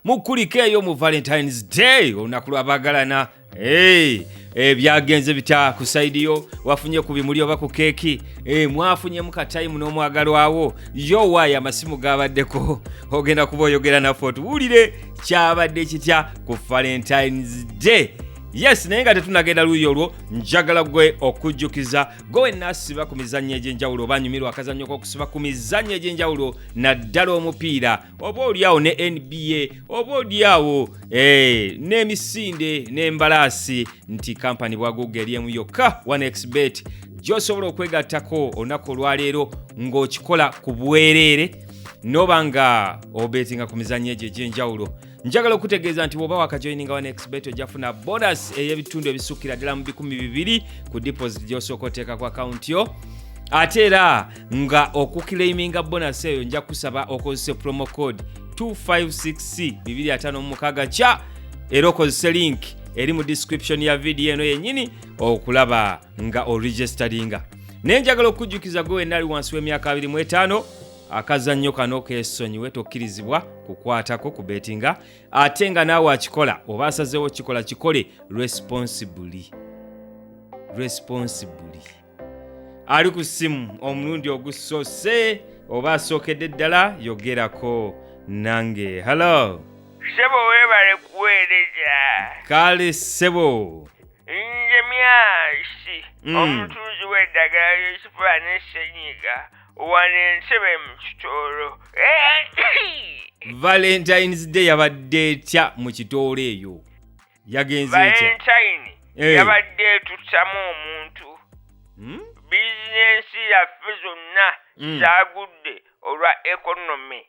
mukulika eyo mu valentines day olunaku lwabagalana hey, ebyagenze eh, bitya ku saidi yo wafunye ku bimuli oba ku keeki hey, eh, mwafunyemu katayimu n'omwagalwawo yo waayo amasimu gabaddeko ogenda kuba oyogera naffe otuwulire kyabadde kitya ku valentines day yes naye nga tetunagenda luuyi olwo njagala gwe okujjukiza gwe wenasiba ku mizannyo egy'enjawulo oba nyumirwa akazannyo k'okusiba ku mizannyo egy'enjawulo naddala omupiira oba olyawo ne nba oba olyawo eh, n'emisinde n'embalaasi nti kampani bwaguga eri emu yokka onexbet gyosobola okwegattako olunaku olwaleero ng'okikola ku bwereere noba nga obetinga ku mizanyo egyo egy'enjawulo njagala okutegeeza nti bwoba wakajoyininga wa nexbet ojja funa bonus ey'ebitundu ebisukira ddala mu bikumi bibiri ku deposit gy'osooka oteeka ku akawunti yo ate era nga okukilaiminga bonasi eyo nja kusaba okozese promo code 256c 256 kya era okozese link eri mu description ya vidiyo eno yennyini okulaba nga oregisteringa naye njagala okujjukiza gwe wenna ali wansi w'emyaka 25 akazannyo kano keesonyiwe tokkirizibwa kukwatako ku betinga ate nga naawe akikola oba asazeewo kikola kikole responsibly responsibly ali ku ssimu omulundi ogusoose oba asookedde ddala yogerako nange halo sebo webale kuweereza kale ssebo nze myasi Mm. omutunzi w'eddagala ly'ekifuba n'essenyiga wano ensebe mu kitoolo valentines day yabadde etya mu kitoolo eyo yagenze etya valentine Eh. yabadde etutsamu omuntu Hmm? bizinensi yaffe zonna Mm. zaagudde olwa ekonomi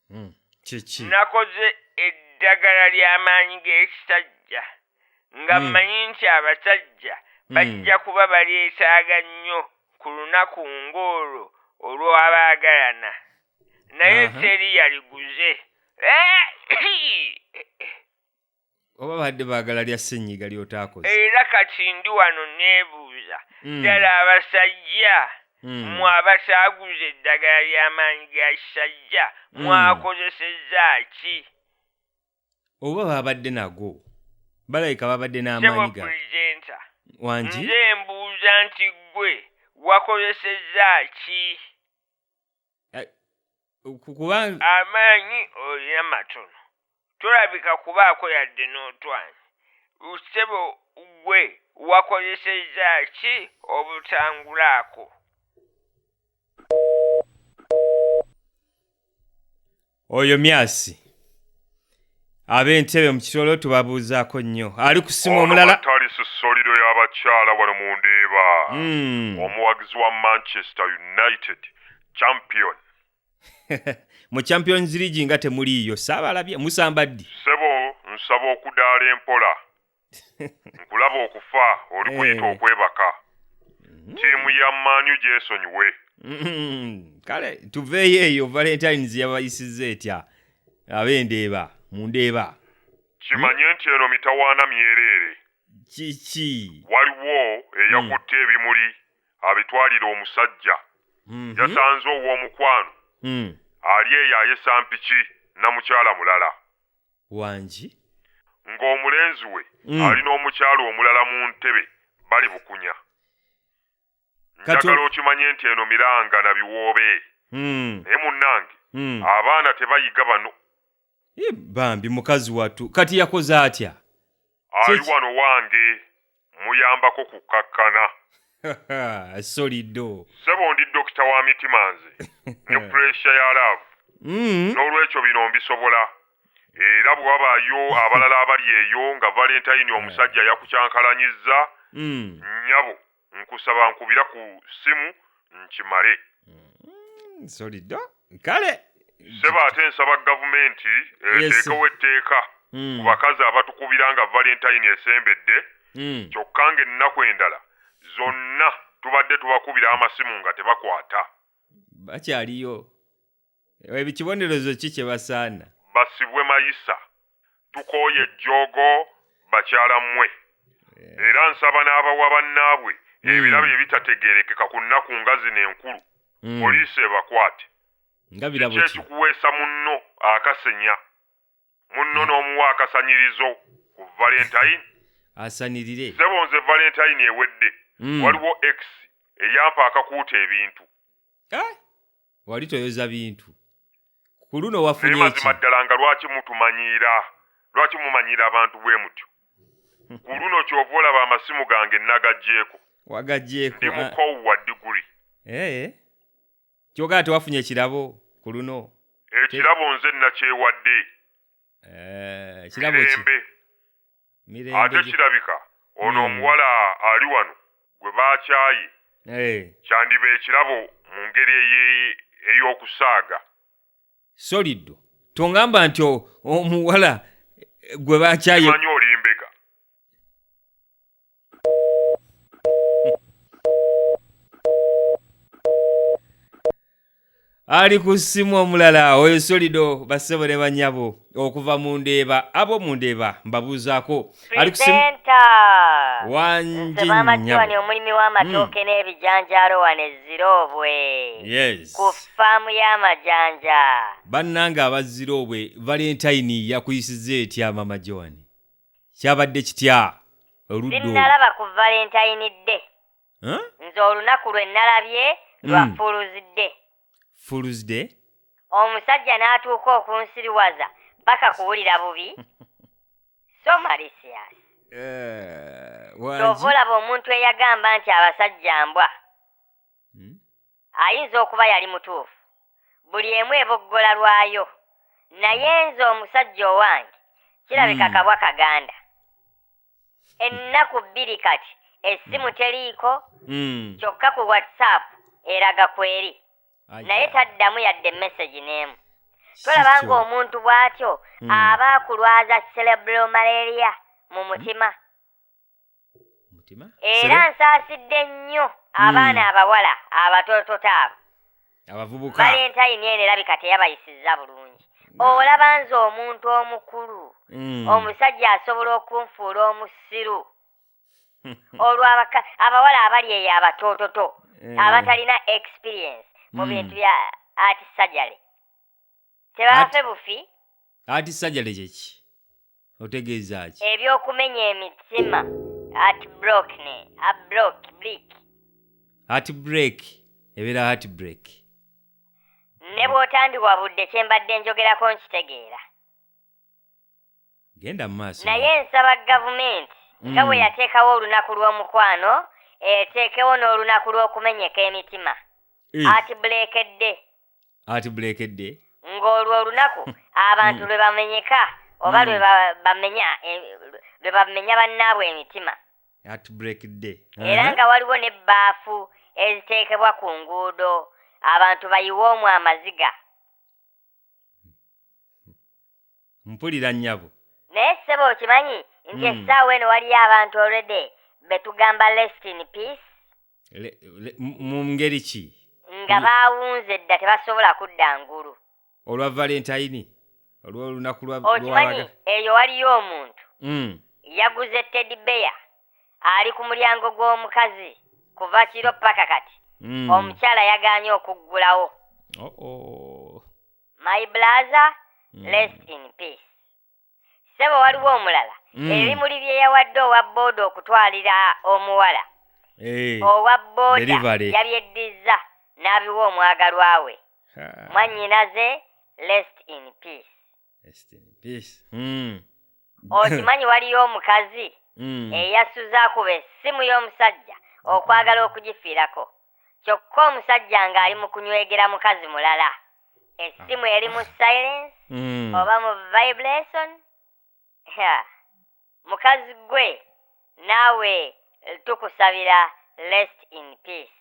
Hmm. kiki nakoze eddagala ly'amaanyi g'ekisajja nga Mm. mmanyi nti abasajja Mm. bajja kuba balyetaaga nnyo ku lunaku ng'olwo olw'abaagalana naye Aha. teri yaliguze Eh! oba badde baagala lya ssenyiga lyotaakoze era kati ndi wano neebuuza Mm, ddala abasajja mm. mwe abataaguza eddagala ly'amaanyi ga kisajja Mm. mwakozesezza ki oba baabadde nago balabika baabadde sebo n'amaanyi ga pulezenta wangi nze mbuuza nti ggwe wakozesezza ki Eh, ku- kuba amaanyi olina matono tolabika kubaako yadde n'otwanya ssebo gwe wakozesezza ki obutangulaako oyo myasi ab'entebe mu kitolo tubabuuzaako nnyo ali ku simu omulala atali sisoliro y'abakyala wano mu ndeeba Mm. omuwagizi wa manchester united champion mu champions league nga temuliiyo saabalabye musamba ddi sebo nsaba okudaala empola nkulaba okufa oli kuyita okwebaka mm-hmm. tiimu ya manyu gyesonyiwe mm-hmm. kale tuveeyo eyo valentines yabayisiza etya abendeeba mu ndeeba kimanye nti eno mitawaana myereere kiki waliwo eyakutte hmm. ebimuli abitwalira omusajja mm-hmm. yasanze ow'omukwano hmm. ali eyo ayesa mpiki na mukyala mulala wangi ng'omulenzi we mm. ali n'omukyalo omulala mu ntebe bali bukunya njagala okimanye nti eno miranga na biwoobe mm. naye munnange mm. abaana tebayiga bano bambi mukazi wattu kati yakoze atya ali Kiki? wano wange muyambako kukkakkana solido sebo ndi dokita wa mitima nze ne puresya ya laavu mm. n'olwekyo bino mbisobola era bwe wabaayo abalala abali eyo nga valentayini omusajja yakukyankalanyizza mm. nnyabo nkusaba nkubira ku ssimu nkimale Mm, sorry do kale sebo ate nsaba gavumenti Yes. eteekewo etteeka ku Mm, bakazi abatukubira nga valentine esembedde mm. kyokka ng'ennaku endala zonna tubadde tubakubira amasimu nga tebakwata bakyaliyo ekibonerezo ki kye basaana basibwe mayisa tukooye ejjoogo bakyala mmwe era nsaba n'abawa bannaabwe hmm. ebirabo ebitategeerekeka ku nnaku nga zino enkulu hmm. poliisi ebakwate kiki ekikuweesa munno akasenya munno hmm. n'omuwa akasanyirizo ku valentine asanirire sebo nze valentine ewedde waliwo x eyampa akakuuta ebintu eh? wali toyoza bintu ku luno wafunye mazima ddala nga lwaki mutumanyiira lwaki mumanyiira abantu bwe mutyo ku luno kyova olaba amasimu gange nagagyeko wagagyeko ndi mukowu wa diguri ee kyogaa tewafunye ekirabo ku luno ekirabo nze nakyewadde eh, mirembe ate kirabika ono hmm. omuwala ali wano gwe bakyaye eh. kyandiba ekirabo mu ngeri ey'okusaaga soliddo tongamba nti omuwala gwe bakyaye ali ku ssimu omulala oyo solido bassebo ne banyabo okuva mu ndeeba abo mu ndeeba mbabuuzaako ali ku ssimu Presenter. Nze wangi maama Tiwani nyabo omulimi w'amatooke n'ebijanjaalo wano e Ziroobwe yes ku ffaamu y'amajanja. bannange abazzira obwe valentayini yakuyisiza etya mama joani kyabadde kitya oludda olwo? sinnalaba ku valentayini dde Huh? nze olunaku lwe nnalabye lwa Mm. fuluzi dde Fool's Day? omusajja n'atuuka okunsiriwaza paka kuwulira bubi so malicious Eh, kyova wangi. olaba omuntu eyagamba nti abasajja mbwa Hmm? ayinza okuba yali mutuufu buli emu eboggola lwayo naye nze omusajja owange kirabika hmm. kabwa kaganda ennaku bbiri kati essimu hmm. teriiko hmm. kyokka ku whatsapp eraga kweri naye taddamu yadde mesagi n'emu tolaba nga omuntu bw'atyo aba akulwaza celebro malaria mu mutima mutima era nsaasidde nnyo abaana hmm. abawala abatoototo abo abavubuka valentayini eno erabika teyabayisizza bulungi olaba nze omuntu omukulu hmm. omusajja asobola okunfuula omusiru olwo abawala abali eyo abatoototo eh. abatalina experience mu hmm. bintu bya ati sajale tebaafe bufi ati sajale kyeki otegeeza ki ebyokumenya emitima at block ne a block blik at break ebeera at break ne bw'otandiwabudde kye mbadde njogerako nkitegeera genda mu maaso naye nsaba gavumenti nga mm. bwe yateekawo olunaku lw'omukwano eteekewo n'olunaku lw'okumenyeka emitima eh. ati buleekedde ati buleekedde ng'olwo olunaku abantu mm. lwe bamenyeka oba mm. lwe bamenya eh, lwe bamenya bannaabwe emitima ati buleekedde era uh-huh. nga waliwo n'ebbaafu eziteekebwa ku nguudo abantu bayiwe omu amaziga mpulira nnyabo naye ssebo okimanyi nti hmm. essaawa eno waliyo abantu olwedde be tugamba lestin peace mu ngeri ki nga hmm. baawunze dda tebasobola kudda ngulu olwa valentayini olwolunaku lwa okimanyi eyo waliyo omuntu hmm. yaguze teddy beya ali ku mulyango gw'omukazi kuva kiro paka kati mm. omukyala yaganye okuggulawo oh -oh. my blaza mm. lest in peace sebo waliwo omulala mm. ebimuli bye yawadde owa booda okutwalira omuwala hey. Eh, owa booda yabyeddizza n'abiwa omwagalwa we mwannyinaze lest in peace Rest in peace. Mm. okimanyi waliyo omukazi Mm. eyasuze akuba essimu y'omusajja okwagala okugifiirako kyokka omusajja ng'ali mu kunywegera mukazi mulala essimu eri mu silence Mm. oba mu vibration Ha. mukazi gwe naawe tukusabira rest in peace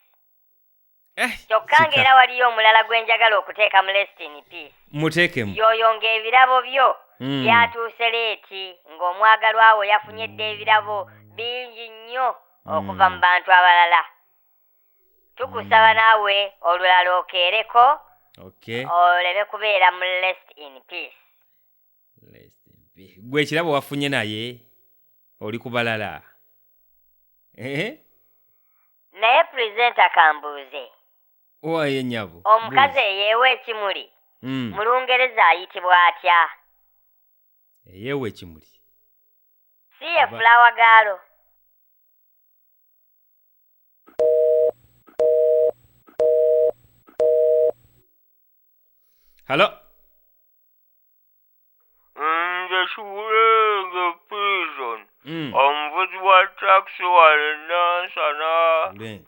Eh, kyokka kika. ng'era waliyo omulala gwe njagala okuteeka mu lest in peace muteekemu yoyo ng'ebirabo byo Mm. byatuuse leeti ng'omwagalwa wo yafunye dda ebirabo bingi nnyo okuva mu bantu abalala tukusaba naawe olulala okeereko okay oleme kubeera mu lest in peace gwe ekirabo wafunye naye oli ku balala naye presenta kambuuze owaye nyabo omukazi eyeewa ekimuli hmm. mu lungereza ayitibwa atya eyeewa ekimuli si ye fulawa gaalo halo nze kibulenge prison mm. omuvuzi wa taxi wale nansana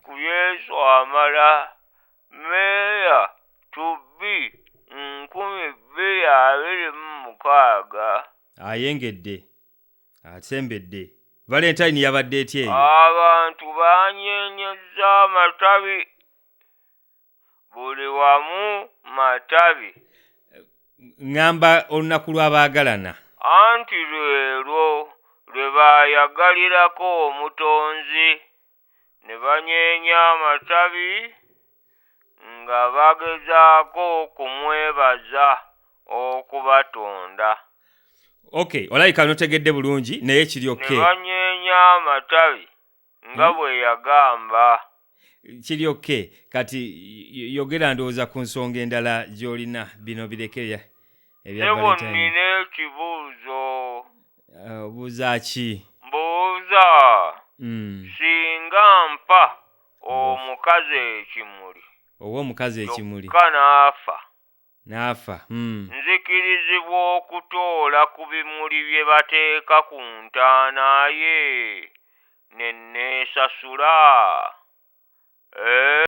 ku yesu amala meeya tubbi nkumi bbiri abiri mu mukaaga ayengedde asembedde valentine yabadde etyeyo abantu banyenyezza amatabi buli wamu matabi ŋŋamba olunaku lw'abaagalana anti lwelwo lwe baayagalirako omutonzi ne banyeenya amatabi nga bagezaako okumwebaza okubatonda okay olabika notegedde bulungi naye kiri okay ne banyeenya amatabi nga hmm? bwe yagamba kiri okke kati yogera ndowooza ku nsonga endala gy'olina bino birekeya ebo nina ekibuuzo eh, obuuza ki mbuuza hmm. singa mpa omukazi ekimuli owa omukazi ekimuli ka naafa n'afa mm. nzikirizibwa okutoola ku bimuli bye bateeka ku ntaana ye ne nneesasula eh.